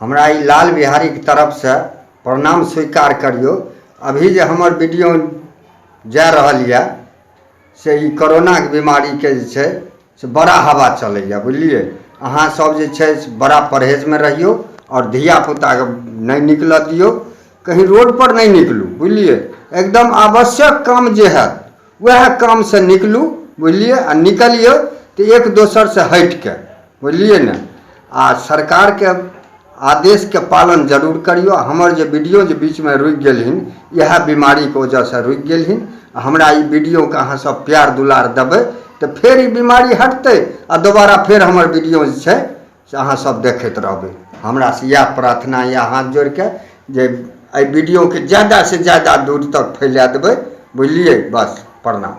हमरा ई लाल बिहारीके तरफसँ प्रणाम स्वीकार करियौ अभी जे हमर वीडियो जा रहल यए से ई कोरोनाके बिमारीके जे छै से बड़ा हवा चलैए बुझलियै अहाँसभ जे छै से बड़ा परहेजमे रहियौ आओर धियापुताकेँ नहि निकलय दियौ कहीँ रोडपर नहि निकलू बुझलियै एकदम आवश्यक काम जे हएत उएह कामसँ निकलू बुझलियै आ निकलियौ तऽ एक दोसरसँ हटि कऽ बुझलियै ने आ सरकारके आदेशके पालन जरूर करियौ आ हमर जे वीडियो जे बीचमे रुकि गेलहिन इएह बीमारीके वजहसँ रुकि गेलहिन आ हमरा ई वीडियोके अहाँ सब प्यार दुलार देबै तऽ फेर ई बीमारी हटतै आ दोबारा फेर हमर वीडियो जे छै से अहाँ सब देखैत रहबै हमरा से इएह प्रार्थना यऽ हाथ जोड़ि कऽ जे एहि वीडियोके जादा से जादा दूर तक फैला देबै बुझलियै बस प्रणाम